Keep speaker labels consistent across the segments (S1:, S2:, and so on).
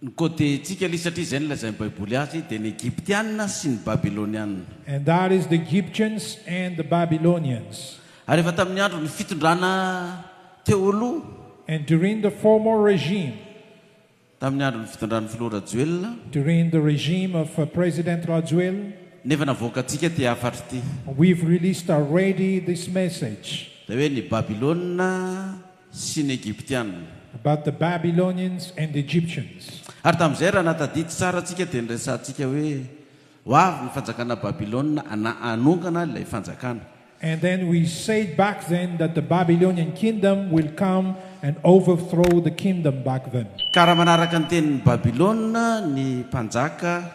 S1: Ny côté ntsika lis satria izay no lazain'ny baiboly azy dia ny Egyptiana sy ny Babyloniana. And that is the
S2: Egyptians and the Babylonians. Ary efa tamin'ny
S1: andron'ny fitondrana teo aloha. And during the
S2: former regime. Tamin'ny
S1: andron'ny fitondran'ny filoha Rajoelina. During the regime
S2: of President Rajoelina. Ny efa navoakantsika
S1: ity hafatro ity. We've released
S2: already this message. Dia hoe ny
S1: Babylona sy ny Egyptiana. About the
S2: Babylonians and Egyptians. Ary tamin'izay, raha
S1: nahatadidy tsara antsika, dia niresahantsika hoe, Ho avy ny fanjakana Babylona na hanongana ilay fanjakana. And then we
S2: said back then that the Babylonian kingdom will come and overthrow the kingdom back then. Ka raha manaraka ny
S1: tenin'i Babylona ny mpanjaka.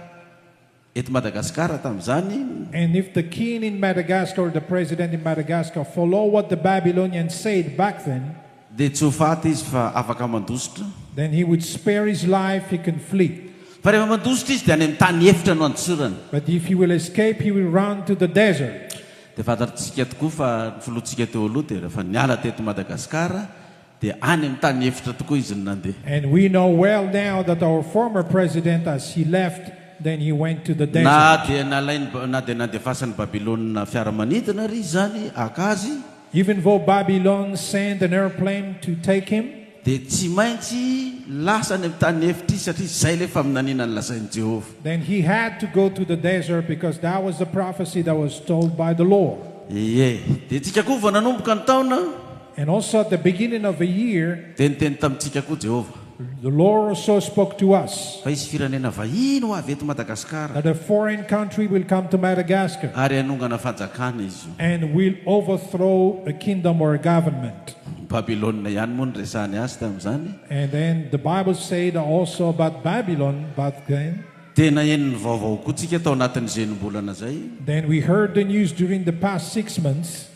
S1: Eto Madagasikara tamin'izany. And if the king
S2: in Madagascar or the president in Madagascar follow what the Babylonians said back then. Dia tsy ho faty
S1: izy fa afaka mandositra. Then he would
S2: spare his life, he can flee. Fa rehefa mandositra
S1: izy dia any amin'ny tany efitra no andosorany. But if he will escape,
S2: he will run to the desert. Dia fantatr'tsika
S1: tokoa fa ny filohantsika teo aloha dia rehefa niala teto Madagasikara. Dia any amin'ny tany efitra tokoa izy no nandeha. And we know well
S2: now that our former president as he left then he went to the desert. Na dia nalainy
S1: na dia nandefasan'i Babylona fiaramanidina àry izany haka azy. Even though
S2: Babylon sent an airplane to take him. Dia tsy maintsy
S1: lasa any amin'ny tany efitra izy satria izay ilay faminaniana nolazain'i Jehovah. Then he had to
S2: go to the desert because that was the prophecy that was told by the Lord. Ie, dia
S1: isika koa vao nanomboka ny taona. And also at the
S2: beginning of the year. Dia niteny tamintsika
S1: koa Jehovah. The Lord also
S2: spoke to us. Fa hisy firenena
S1: vahiny ho avy eto Madagasikara. That a foreign country
S2: will come to Madagascar. Ary hanongana
S1: fanjakana izy io. And will overthrow
S2: a kingdom or a government. Babylona ihany
S1: moa no resahany azy tamin'izany. And then the
S2: Bible said also about Babylon back then. Dia naheno ny
S1: vaovao koa tsika tao anatin'izay enim-bolana izay. Then we heard the
S2: news during the past six months.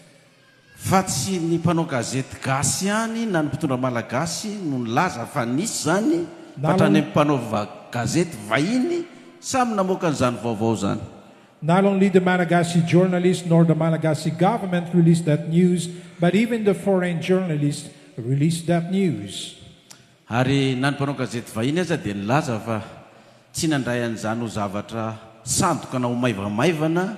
S2: Fa
S1: tsy ny mpanao gazety gasy ihany na ny mpitondra malagasy no nilaza fa nisy izany fa hatrany amin'ny mpanao gazety vahiny samy namoaka an'izany vaovao izany. Not only the
S2: Malagasy journalist nor the Malagasy government released that news but even the foreign journalist released that news. Ary
S1: na ny mpanao gazety vahiny aza dia nilaza fa tsy nandray an'izany ho zavatra sandoka na ho maivamaivana.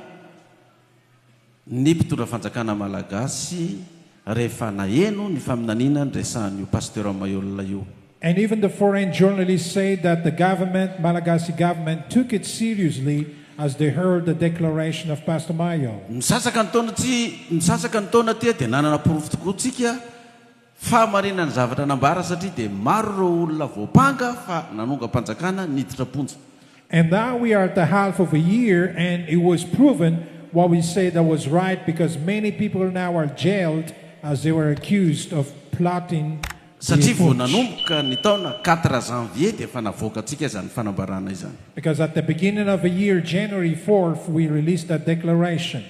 S1: ny mpitondra fanjakana malagasy rehefa naheno ny faminaniana niresahan'io Pasteur Maihol io. And even the foreign
S2: journalists said that the government, Malagasy government, took it seriously as they heard the declaration of Pastor Maihol. Misasaka ny taona tsy
S1: misasaka ny taona aty dia nanana porofo tokoa tsika. Fahamariana ny zavatra nambara satria dia maro ireo olona voampanga fa nanongam-panjakana niditra am-ponja. And now we
S2: are at the half of a year and it was proven what we said that was right because many people now are jailed as they were accused of plotting the Satria vao putsch.
S1: nanomboka ny taona quatre janvier dia efa navoakantsika izany fanambarana izany. Because at the beginning
S2: of a year, January fourth, we released that declaration.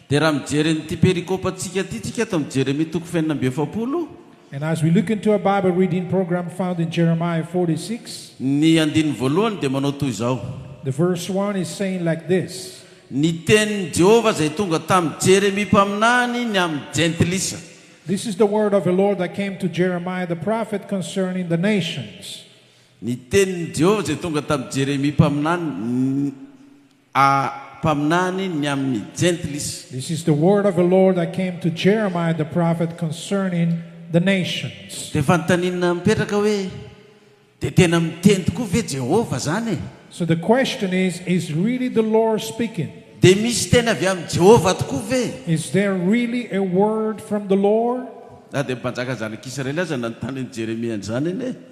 S2: Dia raha mijery
S1: an'ity perikopantsika ity tsika ato amin'ny Jeremia toko fahenina amby efapolo. And as we
S2: look into our Bible reading program found in Jeremiah forty six. Ny andininy
S1: voalohany dia manao toy izao. The verse one
S2: is saying like this. Ny tenin'i
S1: Jehovah izay tonga tamin'i Jeremia mpaminany ny amin'ny Jentilisa. This is the
S2: word of the Lord that came to Jeremiah the prophet concerning the nations. Ny
S1: tenin'i Jehovah izay tonga tamin'i Jeremia mpaminany ny. A Mpaminany ny amin'ny Jentilisa. This is the word of
S2: the Lord that came to Jeremiah the prophet concerning the nations. Dia fanontaniana
S1: mipetraka hoe, Dia tena miteny tokoa ve Jehovah izany e? So the question
S2: is, Is really the Lord speaking? Dia misy teny
S1: avy amin'i Jehovah tokoa ve? Is there really
S2: a word from the Lord? Na dia ny mpanjaka
S1: zanak'Israely aza nanontany an'i Jeremia an'izany anie.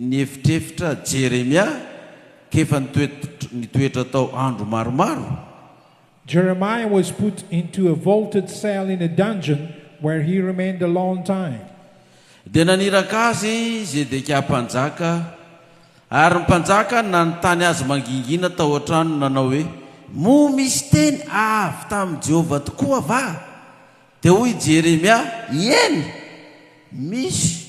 S1: Nihevitrevitra Jeremia k'efa nitoetra tao andro maromaro. Jeremiah
S2: was put into a vaulted cell in a dungeon where he remained a long time. Dia
S1: naniraka azy Zedekia mpanjaka, ary ny mpanjaka nanontany azy mangingina tao an-tranony nanao hoe, Moa misy teny avy tamin'i Jehovah tokoa va? Dia hoy Jeremia, Eny, misy.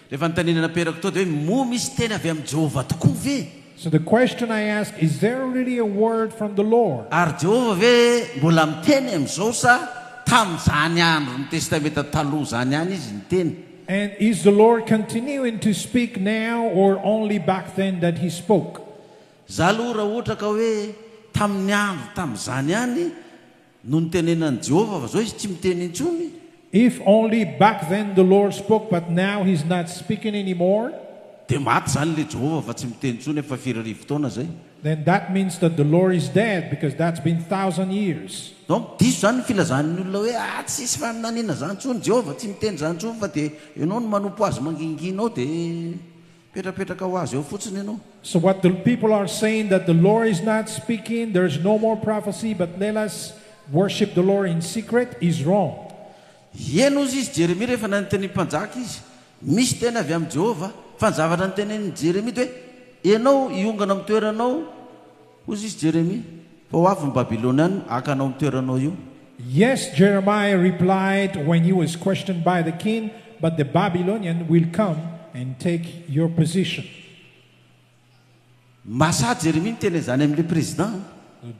S2: Rehefa notanina
S1: naperako tao dia hoe, Moa misy teny avy amin'i Jehovah tokoa ve? So the question
S2: I ask, is there really a word from the Lord? Ary Jehovah ve
S1: mbola miteny amin'izao sa tamin'izany andron'ny Testamenta Taloha izany ihany izy niteny? And is the
S2: Lord continuing to speak now or only back then that he spoke? Izaho aloha
S1: raha ohatra ka hoe tamin'ny andro tamin'izany ihany, No nitenenan'i Jehovah, fa izao izy tsy miteny intsony. If only
S2: back then the Lord spoke but now he's not speaking anymore. Dia maty
S1: izany ilay Jehovah fa tsy miteny intsony efa firy arivo taona izay. Then that means
S2: that the Lord is dead because that's been thousand years. Donc diso izany ny
S1: filazan'ny olona hoe ah tsy hisy faminaniana izany intsony, Jehovah tsy miteny izany intsony fa dia ianao no manompo azy mangingina ao dia. Petrapetraka ho azy eo fotsiny ianao. So what the people
S2: are saying that the Lord is not speaking, there is no more prophecy but let us worship the Lord in secret is wrong. Eny
S1: hozy izy Jeremia rehefa nanitenin'ny mpanjaka izy, Misy teny avy amin'i Jehovah. Fa ny zavatra notenenin'i Jeremia dia hoe, Ianao hiongana amin'ny toeranao Hoy izy, Jeremia, fa ho avy ny Babylonianina haka anao amin'ny toeranao io. Yes,
S2: Jeremiah replied when he was questioned by the king, but the Babylonian will come and take your position.
S1: Mahasahy Jeremia niteny an'izany amin'ilay prezidà.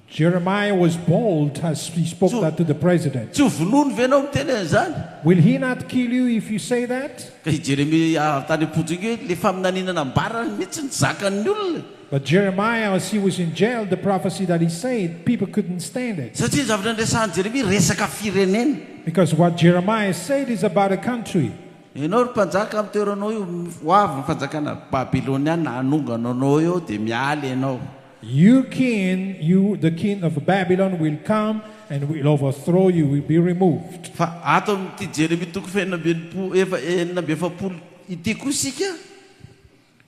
S1: Jeremiah
S2: was bold as he spoke that to the president. Tsy ho vonoiny ve ianao
S1: miteny an'izany? Will he not kill
S2: you if you say that? Ka i Jeremia
S1: avy tany am-ponja iny hoe, Ilay faminaniana nambarany mihitsy no zakan'ny olona e! But Jeremiah
S2: as he was in jail the prophecy that he said people couldn't stand it. Satria ny zavatra niresahan'i
S1: Jeremia resaka firenena. Because what Jeremiah
S2: said is about a country. Ianao ry mpanjaka
S1: amin'ny toeranao eo, ho avy ny fanjakana babyloniana hanongana anao eo dia miala ianao. You king,
S2: you the king of Babylon will come and will overthrow you, will be removed. Fa ato amin'ity
S1: Jeremia toko fahenina amby enimpolo, efa, enina amby efapolo ity koa isika.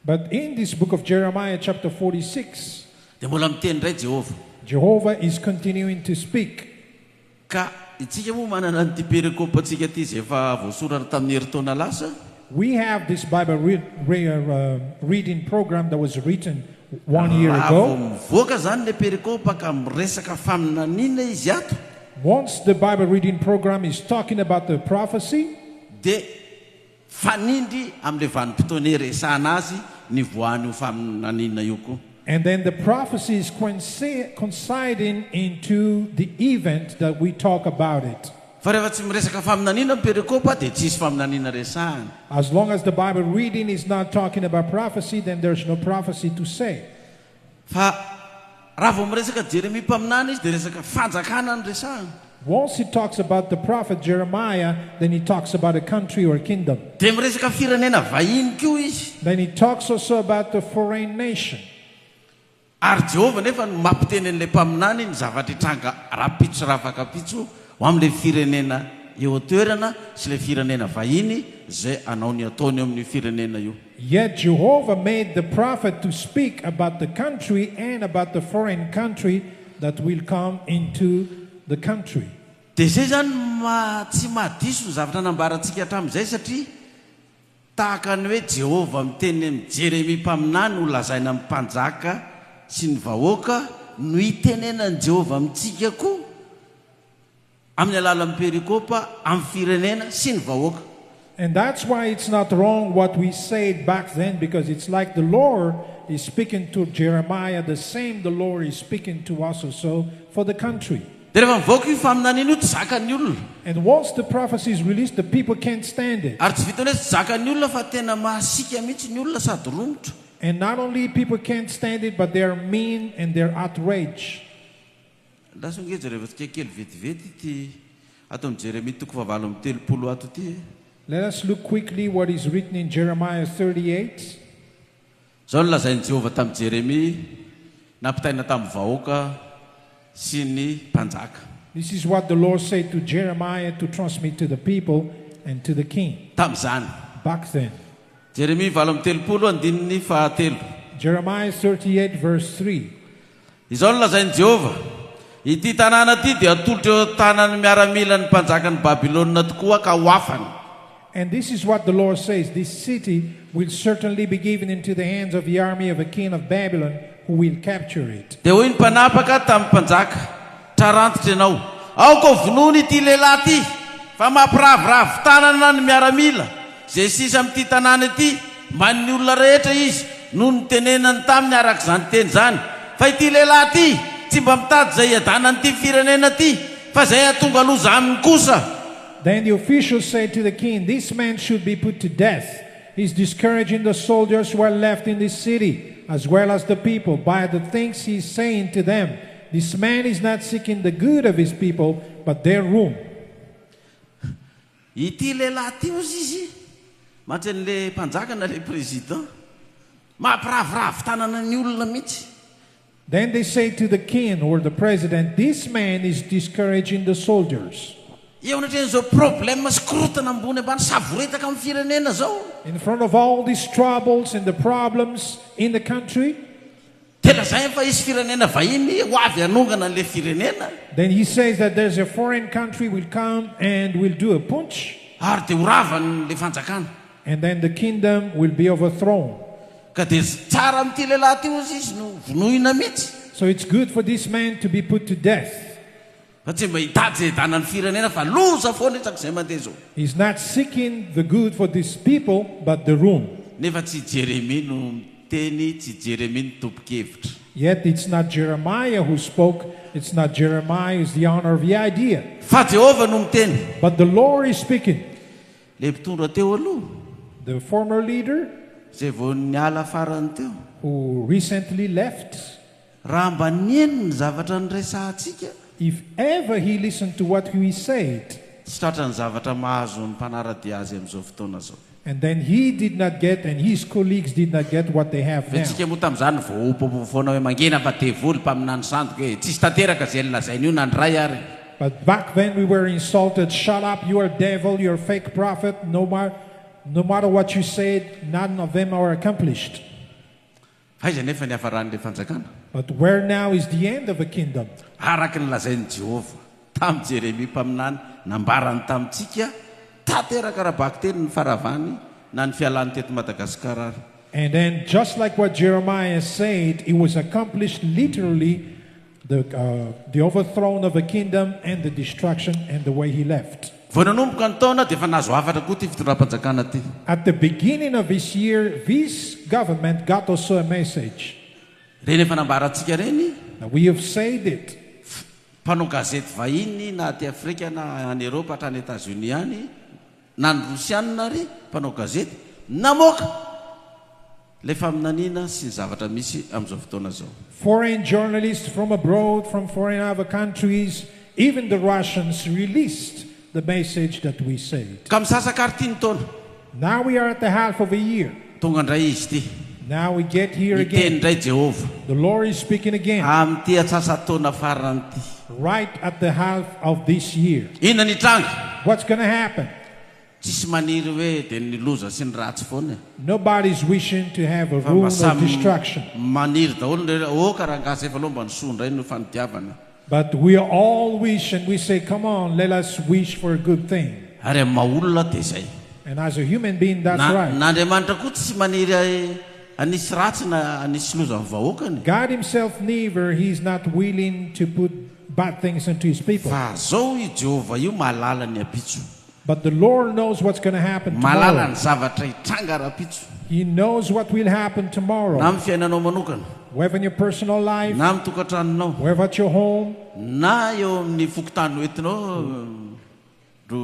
S1: But
S2: in this book of Jeremiah chapter forty six. Dia mbola miteny
S1: indray Jehovah. Jehovah is
S2: continuing to speak. Ka
S1: Isika moa manana an'ity perekopantsika ity izay efa voasoratra tamin'ny herintaona lasa. We have this
S2: Bible re re reading program that was written one year Raha vao ago. mivoaka
S1: izany
S2: ilay
S1: perekopa ka miresaka faminaniana izy ato, Once the
S2: Bible reading program is talking about the prophecy, dia
S1: Mifanindry amin'ilay vanim-potoana iresahana azy ny voan'io faminaniana io koa. And then the prophecies
S2: coinciding into the event that we talk about it. Fa rehefa tsy miresaka
S1: faminaniana ny perikopa dia tsy hisy faminaniana resahana. As long as the
S2: Bible reading is not talking about prophecy then there's no prophecy to say. Fa
S1: raha vao miresaka Jeremia mpaminany izy dia resaka fanjakana no resahiny. Once he talks
S2: about the prophet Jeremiah then he talks about a country or kingdom. Dia miresaka firenena
S1: vahiny koa izy. Then he talks also
S2: about the foreign nation.
S1: Ary Jehovah anefa no mampiteny an'ilay mpaminany ny zavatra hitranga rahampitso sy rahafakampitso ho amin'ilay firenena eo an-toerana sy ilay firenena vahiny izay hanao ny ataony eo amin'io firenena io. Yet Jehovah
S2: made the prophet to speak about the country and about the foreign country that will come into the country. Dia izay izany no
S1: maha tsy maha diso ny zavatra nambarantsika hatramin'izay satria tahaka ny hoe Jehovah miteny amin'i Jeremia mpaminany ho lazaina amin'ny mpanjaka sy ny vahoaka no itenenan'i Jehovah amintsika koa. amin'ny alalan'ny perikopa amin'ny firenena sy ny vahoaka. And that's
S2: why it's not wrong what we said back then because it's like the Lord is speaking to Jeremiah the same the Lord is speaking to us also for the country. Dia rehefa mivoaka io
S1: faminaniana io tsy zakan'ny olona. And once the
S2: prophecy is released the people can't stand it. Ary tsy vitan'ny hoe tsy zakan'ny
S1: olona fa tena masiaka mihitsy ny olona sady romotra. And not only
S2: people can't stand it but they are mean and they're outraged.
S1: Lasa nge jereo tsika kely vetivety ity aton'i Jeremia toko fahavalo amby telopolo ato ity e. Let us look
S2: quickly what is written in Jeremiah thirty eight.
S1: Izao no lazain'i Jehovah tamin'i Jeremia nampitaina tamin'ny vahoaka sy ny mpanjaka. This is what the
S2: Lord said to Jeremiah to transmit to the people and to the king. Tamin'izany. Back
S1: then.
S2: Jeremia valo
S1: amby telopolo andininy fahatelo. Jeremiah
S2: thirty eight verse three. Izao no
S1: lazain'i Jehovah, Ity tanàna ity dia hatolotra eo an-tanan'ny miaramilan'ny mpanjakan'i Babylona tokoa ka ho afany. And this is
S2: what the Lord says, This city will certainly be given into the hands of the army of a king of Babylon, who will capture it. Dia hoy ny mpanapaka
S1: tamin'ny mpanjaka, Trarantitra ianao, aoka hovonoina ity lehilahy ity, fa mampiraviravy tanana ny miaramila. Izay sisa amin'ity tanàna ity, main'ny olona rehetra izy, no nitenenany taminy araka izany teny izany, fa ity lehilahy ity tsy mba mitady izay hiadanan'ity firenena ity, fa izay hahatonga loza aminy kosa. Then the officials
S2: said to the king, This man should be put to death, he is discouraging the soldiers who are left in this city, as well as the people, by the things he is saying to them. This man is not seeking the good of his people, but their ruin.
S1: Ity lehilahy ity ozy izy matry anle mpanjaka na le président. Mampiraviravy tanana ny olona mihitsy. Then they
S2: say to the kin or the president this man is discouraging the soldiers. Eo anatrehan'izao
S1: problème sy korontana ambony ambany savoretaka amin'ny firenena izao. In front of all
S2: these troubles and the problems in the country. Dia lazainy
S1: fa hisy firenena vahiny ho avy hanongana an'ilay firenena. Then he says that
S2: there's a foreign country will come and will do a putsch. Ary dia ho
S1: ravan'ilay fanjakana. And then the
S2: kingdom will be overthrown. Ka dia
S1: tsara amin'ity lehilahy ity hozy izy no vonoina mihitsy. So it's good for this
S2: man to be put to death. Fa tsy mba
S1: hitady izay hidana ny firenena fa loza foana isaky izay mandeha izao. He's not seeking
S2: the good for this people but the room. Nefa tsy i Jeremia
S1: no miteny, tsy Jeremia no tompon-kevitra. Yet it's not
S2: Jeremiah who spoke, it's not Jeremiah who's the owner of the idea. Fa Jehovah no
S1: miteny. But the Lord is
S2: speaking. Ilay mpitondra
S1: teo aloha. The former
S2: leader. Izay vao
S1: niala farany teo. Who recently
S2: left. Raha mba
S1: nihaino ny zavatra niresahantsika. If ever
S2: he listened to what we said. Tsy tratra ny zavatra
S1: mahazo ny mpanara-dia azy amin'izao fotoana izao. And then he did
S2: not get and his colleagues did not get what they have now. Ve tsika moa tamin'izany
S1: voaopopopo foana hoe mangina fa devoly, mpaminany sandoka e. Tsisy tanteraka izay nolazainy io na ny ray ary. But back then
S2: we were insulted, shut up, you are devil, you are fake prophet, no matter what you said, not an of them are accomplished.
S1: Aiza anefa ny hafaran'ilay fanjakana? But where now
S2: is the end of a kingdom? Araka ny lazain'i
S1: Jehovah tamin'i Jeremia mpaminany, nambarany tamintsika, tanteraka ara-bakiteny ny faharavany na ny fialany teto Madagasikara ary. And and just
S2: like what Jeremiah said, it was accomplished literally The the overthrown of a kingdom and the destruction and the way he left. Vao nanomboka ny taona
S1: dia efa nahazo hafatra koa ity fitondram-panjakana ity. At the beginning
S2: of this year this government got also a message. Ireny efa
S1: nambara antsika ireny. Now we have said
S2: it. Mpanao
S1: gazety vahiny na aty Afrika na any Eropa hatrany Etats Unis any na ny Rosianina ary mpanao gazety namoaka. Ilay faminaniana sy ny zavatra misy amin'izao fotoana izao. Foreign journalists
S2: from abroad from foreign other countries even the Russians released the message that we said. Ka misasaka ary ity ny
S1: taona. Now we are at
S2: the half of a year. Tonga indray izy ity.
S1: Now we get
S2: here again. Miteny indray Jehovah.
S1: The
S2: Lord
S1: is speaking
S2: again. Amin'ity antsasa-taona
S1: farany ity. Right at the
S2: half of this year. Inona ny hitranga?
S1: What's going to happen?
S2: Tsisy
S1: maniry hoe dia ny loza sy ny ratsy foana e! Nobody's wishing
S2: to have a Fa mba rule of samy destruction. maniry daholo ny
S1: rehetra oh ka rangahy efa leo mba ny soa indray no fanidiavana. But we
S2: all wish and we say come on let us wish for a good thing. Ary amin'ny maha olona
S1: dia izay. And as a human
S2: being that's Na right. na Andriamanitra koa tsy
S1: maniry hanisy ratsy na hanisy loza amin'ny vahoakany e! God himself
S2: neither, he is not willing to put
S1: bad things
S2: unto
S1: his
S2: people. Fa zao
S1: io
S2: Jehovah
S1: io
S2: mahalala
S1: ny
S2: ampitso. But the Lord knows what's gonna happen tomorrow. Mahalala ny zavatra
S1: hitranga rahampitso. He knows what
S2: will happen tomorrow. Na amin'ny fiainanao manokana.
S1: Whether in your personal
S2: life. Na amin'ny tokantranonao.
S1: Whether at your home.
S2: Na eo
S1: amin'ny fokontany hoentinao, ro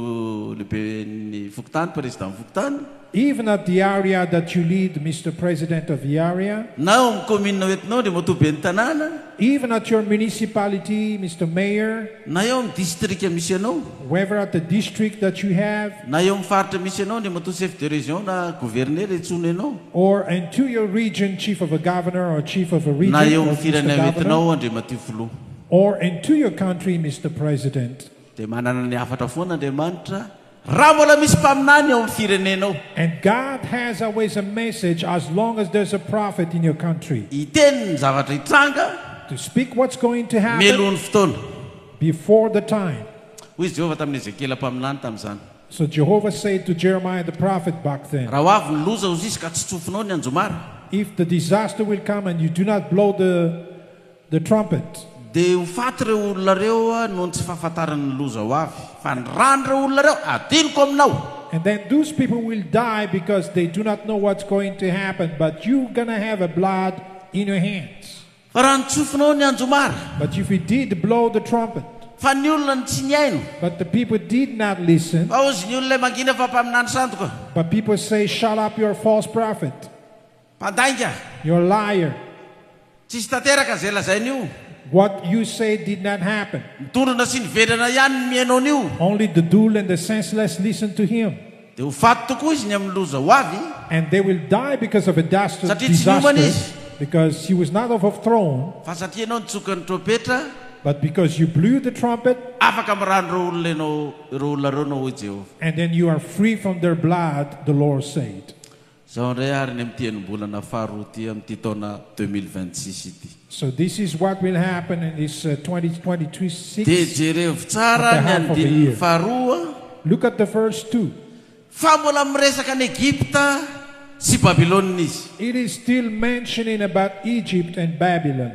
S1: lehiben'ny fokontany, président fokontany. Even at the
S2: area that you lead Mister President of the area. Na ao amin'ny kaominina
S1: hoentinao Andriamatoa Ben'ny tanàna. Even at your
S2: municipality Mister Mayor. Na eo amin'ny distrika
S1: misy anao. Whever at the
S2: district that you have. Na eo amin'ny faritra misy
S1: anao Andriamatoa Chef de Région na Governera entsoina ianao. Or and to your
S2: region Chief of a Governor or Chief of a Region or Mister Governor. Na eo amin'ny firenena
S1: hoentinao Andriamatoa
S2: Filoha.
S1: Or and to
S2: your country Mister President. Dia manana ny
S1: hafatra foana Andriamanitra. Raha mbola misy mpaminany ao amin'ny firenenao. And God
S2: has a ways a message as long as there's a prophet in your country. Hiteny ny zavatra
S1: hitranga. To speak what's
S2: going to happen. Mialohan'ny fotoana.
S1: Before the
S2: time. Hoy Jehovah tamin'i
S1: Ezekiela mpaminany tamin'izany. So Jehovah
S2: said to Jeremiah the prophet back then. Raha ho avy ny loza hoy izy
S1: ka tsy tsofinao ny anjomara. If the disaster
S2: will come and you do not blow the. The trumpet. Dia ho faty
S1: ireo olona ireo noho ny tsy fahafantarany ny loza ho avy. Fa ny ran'ireo olona ireo hadinoko aminao. And then those
S2: people will die because they do not know what's going to happen, but you gonna have a blood in your hands. Fa raha nitsofinao
S1: ny anjomara. But if you did
S2: blow the trumpet. Fa ny olona no
S1: tsy nihaino. But the people did
S2: not listen. Fa hozy ny olona mangina
S1: fa mpaminany sandoka. But people say
S2: shut up you are false prophet. Mpandainga.
S1: You're liar.
S2: Tsisy
S1: tanteraka ze lazain'io. What you say
S2: did not happen. Midondrona sy nivedrana
S1: ihany ny mihaino an'io. Only the dull and the
S2: senseless listen to him. Dia ho faty tokoa
S1: izy ny amin'ny loza ho avy. And they will die
S2: because of a dastr, disaster. Satria tsy niomana
S1: izy. Because he was
S2: not overthrown. Fa satria ianao nitsoka
S1: ny trompetra. But because you
S2: blew the trumpet. Afaka amin'ny ran'ireo
S1: olona ianao, ireo olona ireo ianao, hoy Jehovah. And then you are free
S2: from their blood, the Lord said. Izao indray
S1: ary ny amin'ity enim-bolana faharoa ity amin'ity taona deux mille vingt six ity. So this is what
S2: will happen in this twenty twenty two six. Dia jerevo
S1: tsara ny andininy faharoa. Look at the first
S2: two. Fa mbola
S1: miresaka an'i Egypta sy Babylona izy. It is still
S2: mentioning about Egypt and Babylon.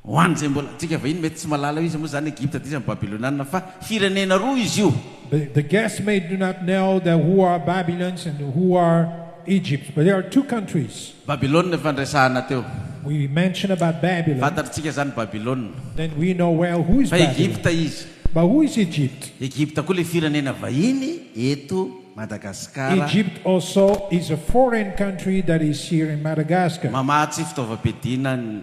S1: Ho an'izay mbola, antsika vahiny mety tsy mahalala hoe iza moa izany Egypta dia iza ny Babylonianina fa firenena roa izy io. The the guests may
S2: do not know the who are Babylons and who are Egypt but there are two countries. Babylona efa niresahana
S1: teo. We mentioned
S2: about Babylon. Fantatritsika izany Babylona.
S1: Then we know well
S2: who is Fa Babylon. Egypta izy. But
S1: who is Egypt?
S2: Egypta koa ilay firenena
S1: vahiny eto Madagasikara. Egypt also
S2: is a foreign country that is here in Madagascar. Mamaha tsy fitaovam-piadiana
S1: ny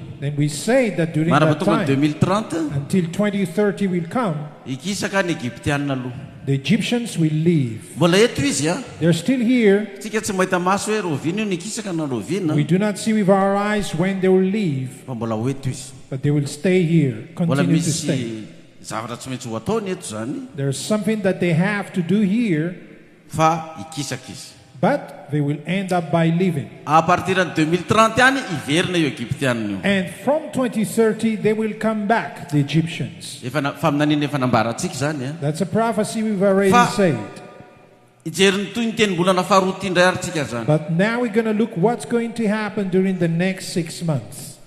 S1: Then we say
S2: that during that time,
S1: until
S2: 2030 will come, hikisaka ny
S1: Egyptiana aloha. The Egyptians
S2: will leave. Mbola eto izy a.
S1: They're still here.
S2: Tsika tsy mahita maso
S1: hoe roviana io nikisaka na roviana. We do not see with our
S2: eyes when they will leave. Fa mbola ho eto izy.
S1: But they will stay
S2: here, continue to stay. Mbola misy zavatra tsy
S1: maintsy ho ataony eto zany. There's something that they
S2: have to do here. fa
S1: hikisaka izy. But they will
S2: end up by leaving. À partir ny deux
S1: mille trente any hiverina io Egyptianina io. And from twenty
S2: thirty they will come back, the Egyptians. Efa na, faminaniana efa
S1: nambarantsika izany an. That's a prophecy we've
S2: already said. Hijery
S1: ny tohin'ny tenimbolana faharoa ity indray ary tsika izany. But now we're gonna look
S2: what's going to happen during the next six months.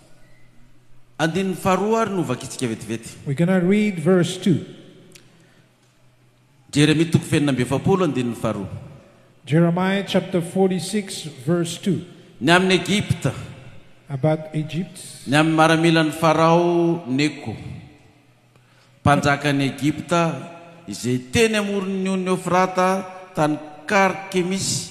S1: Andininy faharoa ary no vakitsika vetivety. We're gonna read
S2: verse two.
S1: Jeremia toko faheenina amby efapolo andininy faharoa. Jeremiah
S2: chapter 46 verse 2. Ny amin' Egypta.
S1: About
S2: Egypt. Ny amin' ny maramilan'
S1: ny Farao Neko, mpanjakan' Egypta, izay teny amoron' ny ony Eofrata, tany Karkemisy,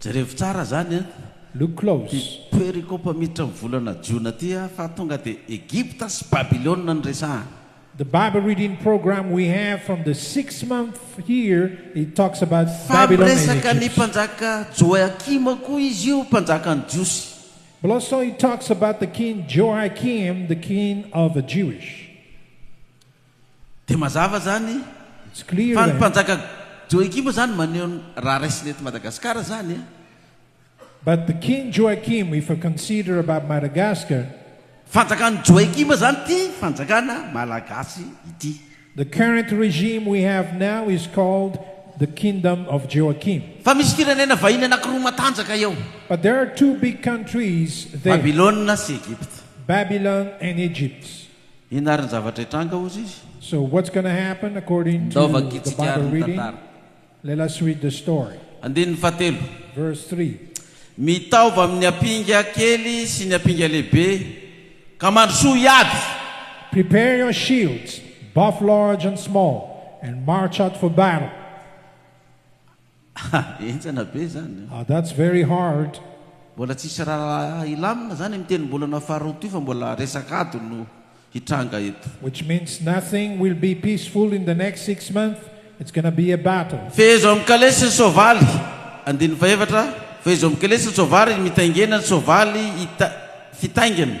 S2: Jerevo tsara
S1: zany an! Ty
S2: perikopa miditra
S1: am volana jiona ty a fa tonga de Egypta sy Babylona no resahana.
S2: Fa miresaka
S1: ny
S2: mpanjaka Joiakima
S1: koa izy io mpanjaka ny
S2: jiosy.
S1: Dia mazava izany fa
S2: ny mpanjaka
S1: Joakim izany maneho ny raha raisina eto Madagasikara izany e!
S2: But the King Joachim if I consider about Madagascar. Fanjakan'i
S1: Joakim izany ity fanjakana Malagasy ity. The current
S2: regime we have now is called the Kingdom of Joachim. Fa misy firenena
S1: vahiny anankiroa matanjaka eo. But there are two
S2: big countries there. Babylona sy Egypta.
S1: Babylon and
S2: Egypt. Inona ary ny
S1: zavatra hitranga, hozy izy? So what's gonna
S2: happen according to the bible
S1: reading?
S2: Let us
S1: read
S2: the story. Andininy fahatelo.
S1: Verse
S2: three. Mitaova
S1: amin'ny apinga kely sy ny apinga lehibe, ka mandrosoa hiady! Prepare
S2: your shields, both large and small, and march out for battle.
S1: Ha! Enjana be zany a! Ah that's very hard.
S2: Mbola tsisy
S1: raharaha hilamina zany am tenimbolana faharoa ty fa mbola resaka ady no hitranga eto. Which means nothing
S2: will be peaceful in the next six month, it's gonna be a battle. Fehezo amin'ny kalesy
S1: ny soavaly. Andininy fahefatra, Fehezo amin'ny kalesy ny soavaly, mitaingena ny soavaly, hita, fitaingina.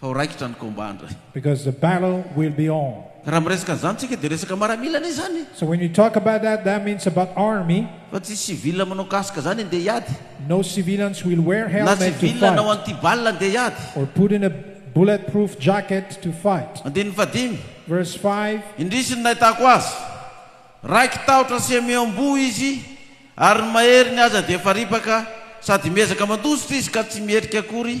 S1: fa ho raikitra ny combat ndray. Because the battle
S2: will be on. Raha miresaka an'izany tsika
S1: dia resaka maramila anie izany e. So when you talk about
S2: that, that means about army. Fa tsy civil
S1: manao casque zany andeha hiady. No civilians will
S2: wear helmet to fight. Na civil anao
S1: anti
S2: balle
S1: andeha hiady. Or put in a
S2: bullet proof jacket to fight. Andininy fahadimy.
S1: Verse five.
S2: Indrisy ny nahitako
S1: azy. Raiky tahotra sy amy amboa izy ary ny maheriny aza dia efa ripaka sady miezaka mandositra izy ka tsy mierika akory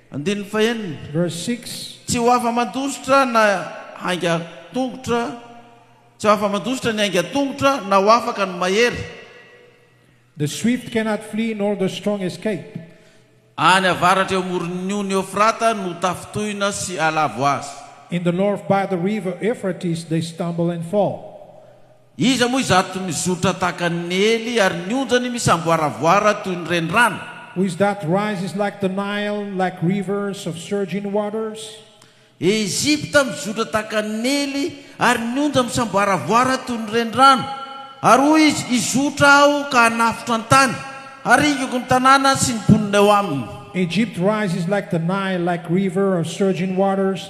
S2: Andininy fahenina,
S1: Verse
S2: 6. Tsy ho afa-mandositra
S1: na haingan-tongotra, tsy ho afa-mandositra ny haingan-tongotra na ho afaka ny mahery.
S2: The swift cannot flee nor the strong escape. Any
S1: avaratra eo amoron'ny ony Eofrata no tafintohina sy alavo azy. In the north by
S2: the river Euphrates they stumble and fall. Iza moa
S1: izato mizotra tahaka an'i Neely ary ny onjany misamboaravoara toy ny renirano? Who is that
S2: rises like the Nile, like rivers of surging waters? Egypta
S1: mizotra tahaka an'i Neely ary ny onjany misamboaravoara toy ny renirano. Ary hoy izy, Hizotra aho ka hanafotro an-tany, haringako ny tanàna sy ny mponina eo aminy. Egypt rises
S2: like the Nile, like river of surging waters,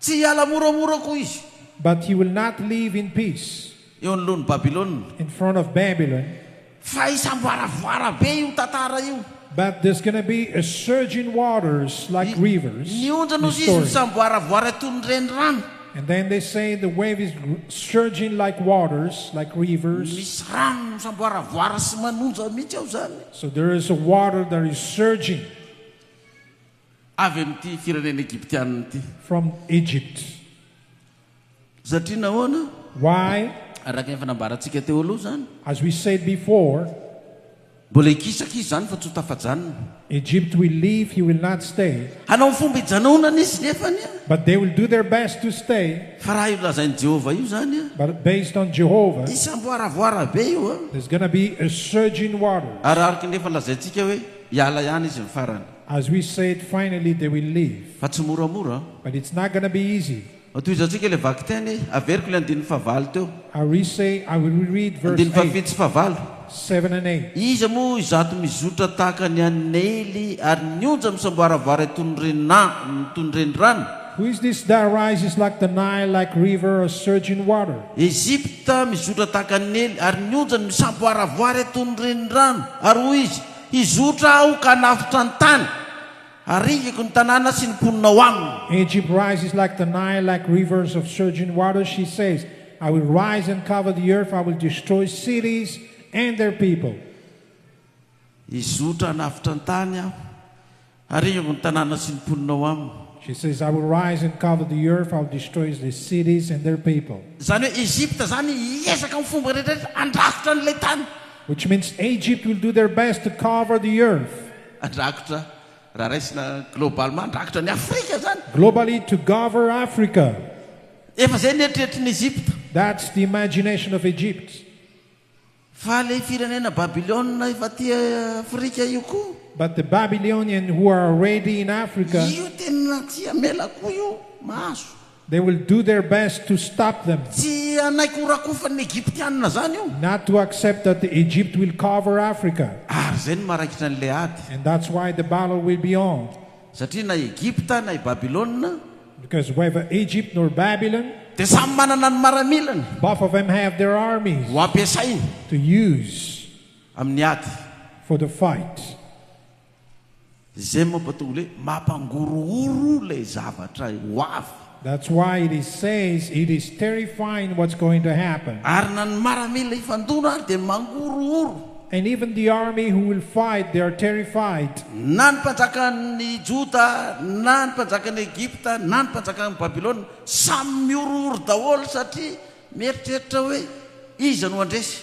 S1: Tsy hiala moramora koa izy. But he will not
S2: leave in peace. Eo anoloan'i
S1: Babylona. In front of
S2: Babylon.
S1: Fa hisamboaravoara be io
S2: tantara
S1: io. But
S2: there's gonna be a surge in waters like rivers. Ny ondrana hozy izy
S1: misamboaravoara
S2: toy ny
S1: renirano. And then they say
S2: the wave is surging like waters, like rivers. Misy rano
S1: misamboaravoara sy manonja mihitsy ao izany. So there is a
S2: water that is surging.
S1: Avy amin'ity firenena Egyptiana ity. From Egypt. Satria nahoana? Why?
S2: Araka ny efa
S1: nambarantsika teo aloha izany. As we said
S2: before. Mbola
S1: hikisaka izy izany fa tsy ho tafajanona. Egypt will
S2: leave, he will not stay. Hanao ny fomba hijanonany
S1: izy nefany a. But they will do their best
S2: to stay. Fa raha io lazain'i
S1: Jehovah io izany a. But based on Jehovah.
S2: Hisy hamboaravoara be
S1: io a. There's gonna be a
S2: surge in water. Ary araka ny efa
S1: lazaintsika hoe hiala ihany izy ny farany. As we say it
S2: finally they will leave. Fa tsy moramora an.
S1: But it's not gonna be
S2: easy. Mba tohizo antsika ilay
S1: vakiteny e. Averiko ilay andininy fahvalo teo. I resay, I
S2: will reread verse Andininy fahafito eight, sy fahavalo.
S1: seven and eight.
S2: Iza moa izato
S1: mizotra tahaka ny an'i Neily ary mionja misamboaravara toy ny renina, toy ny renirano? Who is this that
S2: rises like the Nile, like river or surge in water? Ejipta
S1: mizotra tahaka an'i Neily ary mionja ny misamboaravoara toy ny renirano. Ary hoy izy, Hizotra Aho ka hanavotra ny tany, haringiko ny tanàna sy ny mponina ao aminy. Egypt rises like
S2: the Nile, like rivers of surging waters, she says, I will rise and cover the earth, I will destroy cities and their people. Hizotra
S1: hanavotra ny tany Aho, Arivo ny tanàna sy ny mponina ao aminy. She says, I will
S2: rise and cover the earth, I will destroy the cities and their people. Izany hoe Egypta
S1: izany hiezaka amin'ny fomba rehetrarehetra handrakotra an'ilay tany. Which means
S2: Egypt will do their best to cover the earth. Handrakotra,
S1: raha raisina globalement, handrakotra an'i Afrika izany. Globally to cover
S2: Africa. Efa izay
S1: ny eritreritrin'i Egypta. That's the imagination
S2: of Egypt.
S1: Faly e firenena Babylona efa aty Afrika io koa. But the Babylonian
S2: who are already in Africa. Io tena tsy
S1: hamela koa io mahazo. They will do
S2: their best to stop them. Tsy hanaiky ho
S1: rakofan'ny Egyptianina zany io. Not to accept that
S2: the Egypt will cover Africa. Ary zay no maraikitra
S1: an'ilay ady. And that's why the
S2: battle will be on. Satria na i
S1: Egypta na i Babylona. Because whether
S2: Egypt nor Babylon. Dia samy manana
S1: ny maramilany. Both of them have their
S2: armies. Ho ampiasainy.
S1: To use.
S2: Amin'ny ady.
S1: For the fight. Izay mampataholy hoe mampangorohoro ilay zavatra ho avy. That's why it is
S2: says it is terrifying what's going to happen. Ary na ny maramila
S1: hifandona ary dia mangorohoro. And even the
S2: army who will fight they are terrified. Na ny
S1: mpanjakan'ny Joda na ny mpanjakan'i Egypta na ny mpanjakan'i Babylona samy mihorohoro daholo satria mieritreritra hoe iza no handresy.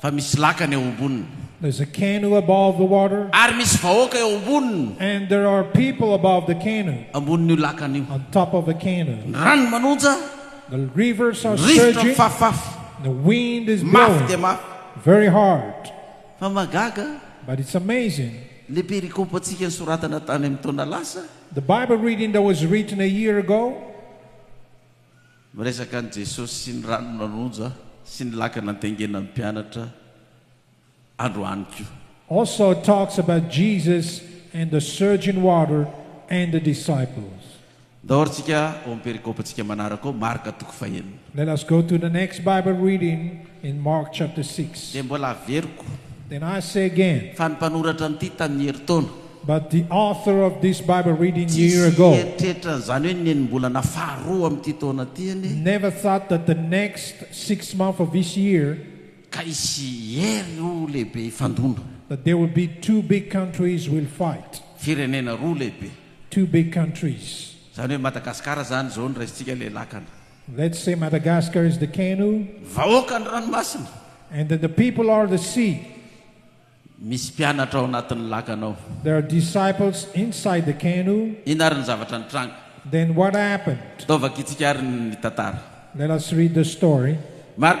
S2: Fa misy lakana
S1: eo amboniny. There's a canoe
S2: above the water. Ary misy vahoaka eo
S1: amboniny. And there are people
S2: above the canoe. Ambonin'io lakana io.
S1: On top of the canoe.
S2: Ny rano manonja.
S1: The rivers
S2: are surging. Ny rivotra mifafafy.
S1: The wind
S2: is blowing. Mafy dia mafy.
S1: Very hard.
S2: Fa mahagaga.
S1: But it's amazing.
S2: Le perikopa
S1: antsika nisoratana tany amin'ny taona lasa. The Bible reading
S2: that was written a year ago. Miresaka
S1: an'i Jesosy sy ny rano nanonja sy ny laka nandengena ny mpianatra androany koa. Also talks
S2: about Jesus and the surge in water and the disciples. Ndao ary tsika
S1: ao amin'ny perikopantsika manaraka ao, Marka toko fahenina. Let us go to the
S2: next Bible reading in Mark chapter six. Dia mbola averiko.
S1: Then I say
S2: again. Fa ny mpanoratra an'ity
S1: tamin'ny herintaona. But the author
S2: of this Bible reading a year ago. Tsy nieritreritra an'izany
S1: hoe
S2: ny
S1: enim-bolana faharoa amin'ity taona ity anie. Never thought that the
S2: next sixth month of this year. Ka hisy
S1: hery roa lehibe hifandona. That there will be
S2: two big countries will fight. Firenena roa
S1: lehibe. Two big
S2: countries. Izany hoe Madagasikara
S1: izany izao no raisintsika ilay lakana. Let's say
S2: Madagascar
S1: is
S2: the
S1: Kenu. Vahoaka
S2: ny
S1: ranomasina.
S2: And then the people are the sea.
S1: Misy mpianatra ao anatin'ny lakana ao. There are disciples
S2: inside the Kenu. Inona ary ny zavatra
S1: nitranga? Then what happened?
S2: Taovakitsika
S1: ary
S2: ny
S1: tantara.
S2: Let
S1: us read the
S2: story. Marka